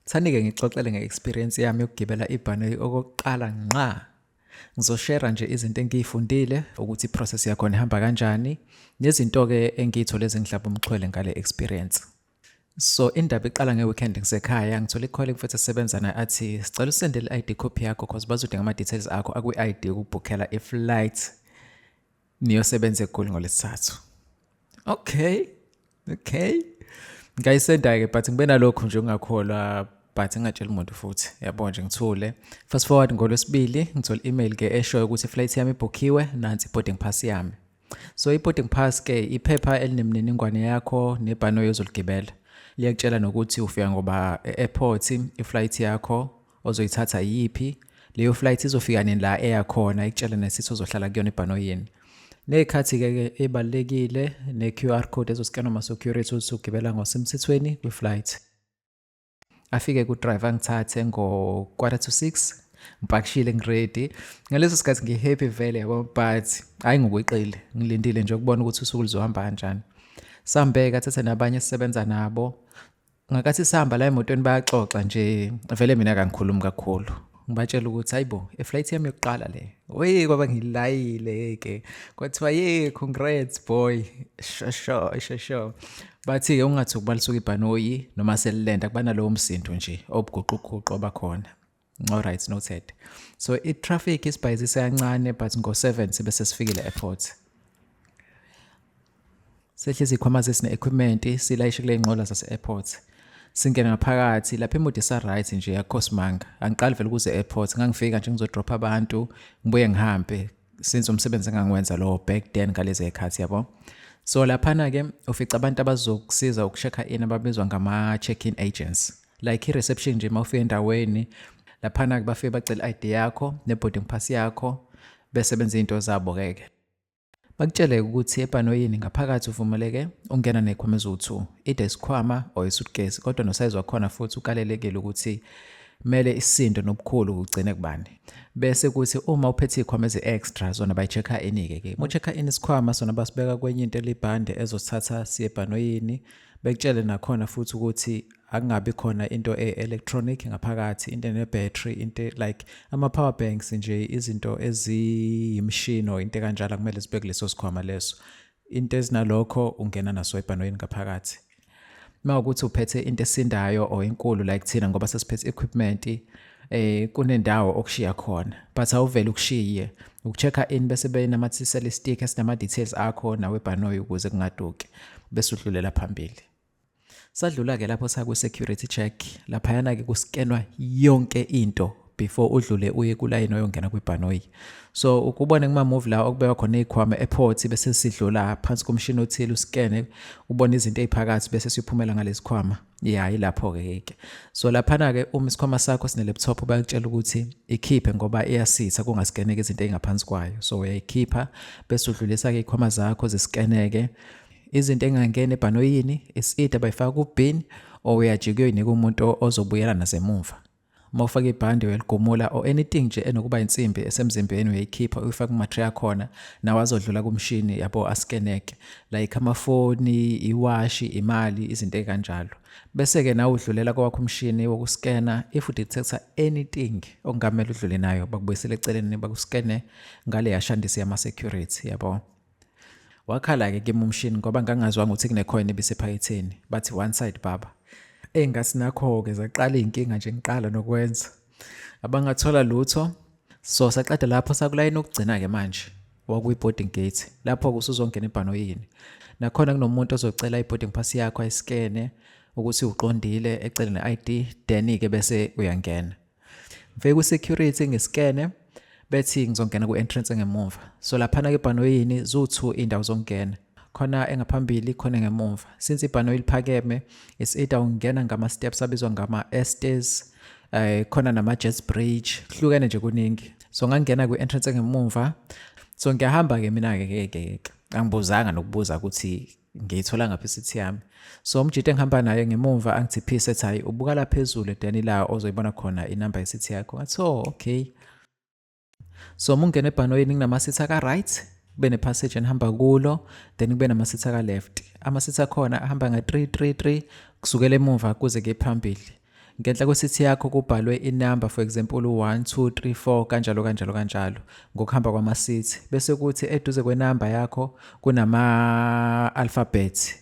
Thani-ke ngixoxele nge-experience yami yokugibela ibhanoyi okokuqala nqa ngizoshera nje izinto engiyifundile ukuthi i-process yakhona ihamba kanjani nezinto-ke engiyithole ezingihlaba umxhwele ngale experience so indaba iqala nge-weekend ngisekhaya ngithole ikhole mfethu esebenza naye athi sicela usendele i-id copy yakho cause bazodinga ama-details akho akwi-id ukubhukhela i-flight niyosebenza egoli ngolesithathu okay okay ngayisenda-ke but ngibe nalokhu nje ungakholwa but ngingatsheli muntu futhi yabo nje ngithule fast forward ngolwesibili ngithola i-email ke eshoyo ukuthi iflight yami ibhukhiwe nansi i-boarding pass yami so i-boarding pass ke iphepha elinemininingwane yakho nebhanoyi ozoligibela liyakutshela nokuthi ufika ngoba e-airport iflight yakho ozoyithatha yiphi leyo flight izofika nini la eya khona ikutshela nesithi ozohlala kuyona ebhanoyini nekhathi-ke ke ebalulekile ne-q r code ezosikanwa ama-security ukuthi ugibela ngosemthethweni kwi-flight afike kudrive angithathe ngo-quarter to six ngipakishile ngiredi ngaleso sikhathi ngihappy vele yabo but hhayi ngokweqile ngilindile nje ukubona ukuthi usuku luzohamba kanjani sambeka thathe nabanye esisebenza nabo ngakathi sihamba la emotweni bayaxoxa nje vele mina kangikhulumi kakhulu ngibatshela ukuthi hayi bo eflight yami yokuqala le oye kwaba ngilayile ke kwathiwa ye congrats boy shosho shosho bathi-ke ungathi ukubalisuka ibhanoyi noma selilenda kuba nalowo msindo nje obuguquguqu obakhona Alright, noted. So i-traffic isibhayizise kancane but ngo-7 sibe sesifikile airport. Sehlezi ikhwama zesine-equipment silayishe kule nqola zase-airport. Singena ngaphakathi lapha imodi isa-right nje yakhosimanga. Angiqali vele ukuze airport ngangifika nje ngizodropha abantu ngibuye ngihambe since umsebenzi engangiwenza lowo back then ngalezi ekhathi yabo. So laphana-ke ufica abantu abazokusiza ukushekha in ababizwa ngama-check-in agents. like i-reception nje uma ufika endaweni laphana-ke bafike bacela i-id yakho ne-boarding pass yakho bese benza iy'nto zabo-keke bakutshele-ke ukuthi ebhanoyini ngaphakathi uvumeleke ungena ney'khwama eziwu-two ide isikhwama or isutcase kodwa nosayizi wakhona futhi ukalelekile ukuthi kumele isindo nobukhulu kugcine kubani bese kuthi uma uphethe izikhwama ezi-extra zona bayi-check-a ini-ke ke mu-check-a ini isikhwama sona basibeka kwenye into elibhande ezosithatha siye ebhanoyini bekutshele nakhona futhi ukuthi akungabi khona into e-electronic ngaphakathi into ene-battery into like ama-power banks nje izinto eziyimishini or into kanjalo kumele zibe kuleso sikhwama leso into ezinalokho ungena naso ebhanoyini ngaphakathi uma ukuthi uphethe into esindayo or inkulu like thina ngoba sesiphethe equipment eh kunendawo okushiya khona but awuvele ukushiye ukuchecka in bese benamathisela istick esinama details akho nawe bhanoyi ukuze kungaduki bese udlulela phambili Sadlula-ke lapho sakwi-security check laphayana-ke kuskenwa yonke into before udlule uye kulayini oyongena kwibhanoyi so ukubone kumamuvi la okubekwa khona iy'khwama ephothi bese sidlula phansi komshini othile usikene ubone izinto ey'phakathi bese siphumela ngalezi khwama ya ilapho-ke yeke so laphana-ke uma isikhwama sakho sine-laptop bayakutshela ukuthi ikhiphe ngoba iyasitha kungasikeneke izinto ey'ngaphansi kwayo so uyayikhipha bese udlulisa-ke iy'khwama zakho zisikeneke izinto engangena ebhanoyini isidi abayifaka kubin or uyajika uyoyinika umuntu ozobuyela nasemumva uma ufaka ibhande uyaligumula or anything nje enokuba insimbi esemzimbeni uyayikhipha uyifaka kumatri akhona nawo azodlula kumshini yabo askeneke like amafoni iwashi imali izinto ekanjalo bese-ke nawe udlulela kowakho umshini wokuskena if udetector anything okungamele udlule nayo bakubuyisele eceleni bakuskene ngale yashandisi yama-security yabo Wakhala-ke kimi umshini ngoba ngangazwanga ukuthi kunekhoyini ebisephaketheni. Bathi one side baba. Eyi ngathi nakho-ke zaqala iy'nkinga nje ngiqala nokwenza. Abangathola lutho. So saqeda lapho sakulayini okugcina-ke manje wakuyi-boarding gate. Lapho-ke usuzongena ebhanoyini. Nakhona kunomuntu ozocela i-boarding pass yakho ayisikene ukuthi uqondile ecele ne-ID then-ke bese uyangena. ngifike kwi-security ngisikene bethi ngizongena ku-entrance engemumva so laphana ke ibhanoyini ziwu-two iy'ndawo zokungena khona engaphambili khona engemumva since ibhanoyi liphakeme is either ungena ngama-steps abizwa ngama-estes um eh, khona nama-jets bridge kuhlukene nje kuningi so ngangena kwi-entrance engemumva so ngiyahamba-ke mina-ke ke ke angibuzanga nokubuza ukuthi ngiyithola ngapha isithi yami so umjita engihamba naye ngemumva angithi phisa ethi hhayi ubuka la phezulu edani la ozoyibona khona inamba yesithi yakho ngathi oh okay so uma ungena ebhanoyini nginamasithi aka-right kube ne-passage enihamba kulo then kube namasithi aka-left amasithi akhona ahamba nga-three three three kusukela emumva kuze kuye phambili Ngenhla kwesithi yakho kubhalwe inamba for example u-1, 2, 3, 4 kanjalo kanjalo kanjalo ngokuhamba kwamasithi. Bese kuthi eduze kwenamba yakho kunama-alphabet.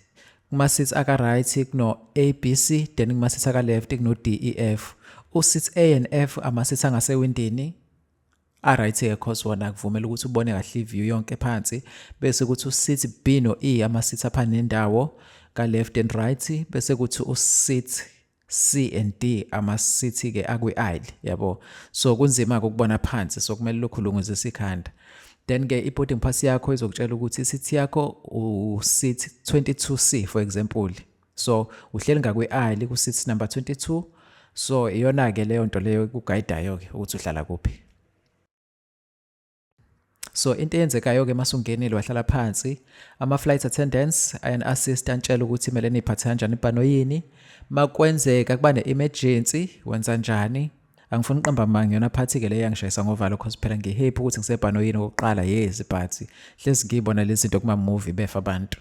Kumasithi aka-right kuno-A, B, C then kumasithi aka-left kuno-D, E, F. Usithi A and F amasithi angasewindini Aright ke cause wona akuvumela ukuthi ubone kahle iview yonke phansi bese kuthi usit B no E ama sit apha nendawo ka left and right bese kuthi usit C and D ama sit ke akwi aisle yabo so kunzima ukubona phansi so kumele lokhu lunguze sikhanda then ke i-boarding pass yakho izokutshela ukuthi isithi yakho u-seat 22c for example so uhleli ngakwi aisle ku seat number 22 so iyona ke leyo nto leyo kuguidayo ke ukuthi uhlala kuphi so into eyenzekayo ke masungenile wahlala phansi ama flight attendants and assist antshela ukuthi kumele niphathe kanjani ibhanoyini makwenzeka kuba ne emergency wenza njani angifuni uqamba manga yona phathi ke le yangishayisa ngovalo cause phela ngihappy ukuthi ngisebhanoyini okokuqala yezi phathi hlezi ngiyibona lezi zinto kuma movie befa abantu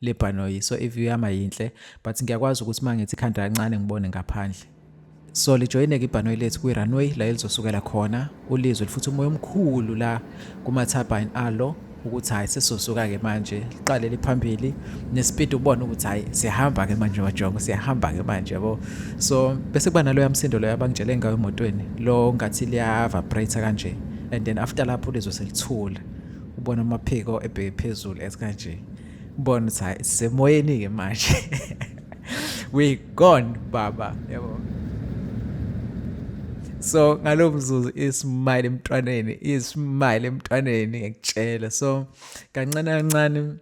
le bhanoyi so iview yami ayinhle but ngiyakwazi ukuthi uma ngithi ikhanda kancane ngibone ngaphandle so lijoyineke ibhanoyi lethu kwi-runway la elizosukela khona ulizwe lifuthi umoya omkhulu la kuma-turbine alo ukuthi hhayi sesosuka-ke manje liqalele phambili nesipidi ubona ukuthi hhayi siyahamba-ke manje wajongo siyahamba-ke manje yabo so bese kuba naloya msindo loyo abangitshele ngayo emotweni lo ngathi liya-vibrate kanje and then after lapho ulizwe selithula ubona amaphiko ebheke phezulu esikanje Ngibona ukuthi hayi sisemoyeni-ke manje. We gone baba yabo. So ngalo mzuzu ismile emntwaneni, ismile emntwaneni ngikutshela. So kancane kancane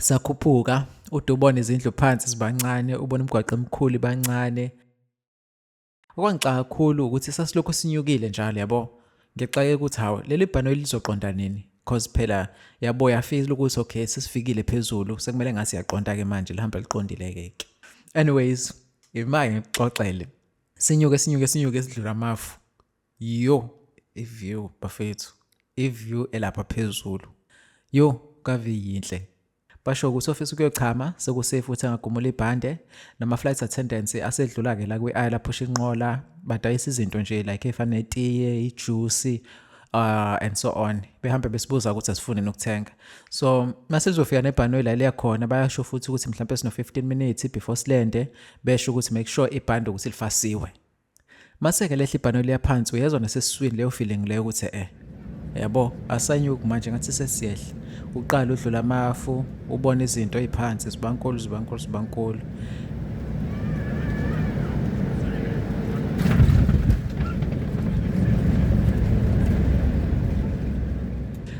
sakhuphuka ude ubona izindlu phansi zibancane ubona umgwaqo emkhulu ibancane Okwangixaka kakhulu ukuthi sasilokhu sinyukile njalo yabo. Ngixake ukuthi hawu leli bhanoyi lizoqonda nini cause phela yabo yafeel ukuthi okay sesifikile phezulu sekumele ngase yaqonda ke manje lihamba liqondile ke. Anyways, imake ngixoxele. Sinyuke sinyuke sinyuke sidlula amafu. Yo, iview bafethu. Iview elapha phezulu. Yo, kave yinhle. Basho ukuthi ofisa ukuyochama sekusafe ukuthi angagumula ibhande nama-flight attendants asedlula-ke la kwi-aisle aphusha inqola badayisa izinto nje like efana netiye ijusi uh, and so on behambe besibuza ukuthi asifune nokuthenga so masizofika nebhanoyi la liyakhona bayasho futhi ukuthi mhlawumpe sino-15 minutes before silende besho ukuthi make sure ibhande ukuthi lifasiwe Maseke lehla ibhano liya phansi uyezwa nasesiswini leyo feeling leyo ukuthi eh yabo asanyuki manje ngathi sesiyehla uqala udlula amafu ubona izinto eziphansi zibankulu zibankulu zibankulu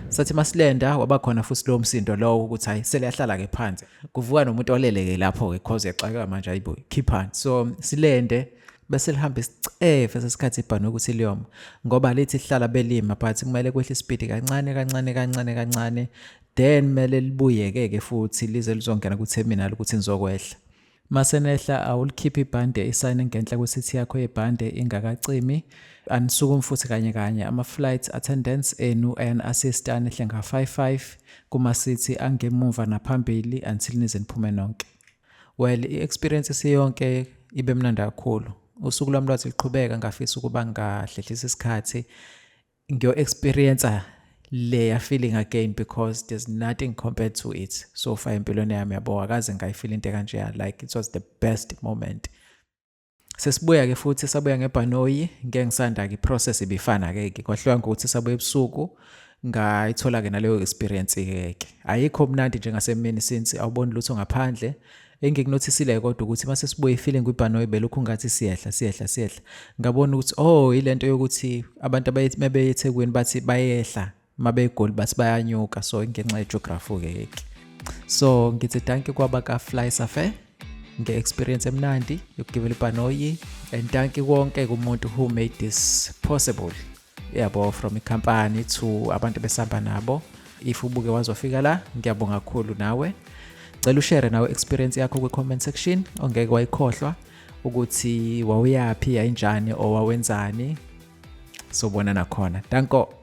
sathi masilenda wabakhona futhi lowo msindo lowo ukuthi hayi seliyahlala-ke phansi kuvuka nomuntu oleleke lapho-ke cause yaxakeka manje ayibo khiphani so silende bese lihamba isicefe sesikhathi ibhanoyi ukuthi liyoma ngoba lithi hlala belima but kumele kwehle isipidi kancane kancane kancane kancane then kumele libuyeke-ke futhi lize lizongena ku-terminal ukuthi nizokwehla masenehla awulikhiphi ibhande isayine ngenhla kwesithi yakho yebhande ingakacimi anisukumi futhi kanye kanye ama-flight attendance enu ayan-assist anehle nga-55 Kuma sithi angemuva naphambili until nize niphume nonke. Well, i-experience isiyonke ibe mnandi kakhulu. Usuku lwami lwathi luqhubeka ngafisa ukuba ngahlehlisa isikhathi ngiyo-experiencer leya feeling again because there's nothing compared to it so far empilweni yami yabo akaze ngayifila into ekanjeya like it was the best moment Sesibuya ke futhi sabuya ngebhanoyi ngeke ngisanda ke process ibifana ke ke kwahluka ngokuthi sabuya ebusuku ngayithola ke naleyo experience ke ke ayikho mnandi njengasemini since awuboni lutho ngaphandle engikunothisile kodwa ukuthi mase sibuye feeling kwibhanoyi belokhu ngathi siyehla siyehla siyehla ngabona ukuthi oh ilento yokuthi abantu abayethi eThekwini bathi bayehla uma begoli bathi bayanyuka so ngenxa yejografi ukeke so ngithi danki kwaba ka-fly safe nge-experience emnandi yokugibela ibhanoyi and danki konke kumuntu who made this possible yabo from ikhampani to abantu besihamba nabo if ubuke wazofika la ngiyabonga kakhulu nawe cela ushere nawe experience yakho kwi-comment section ongeke wayikhohlwa ukuthi wawuyaphi yayinjani or wawenzani sobona nakhona danko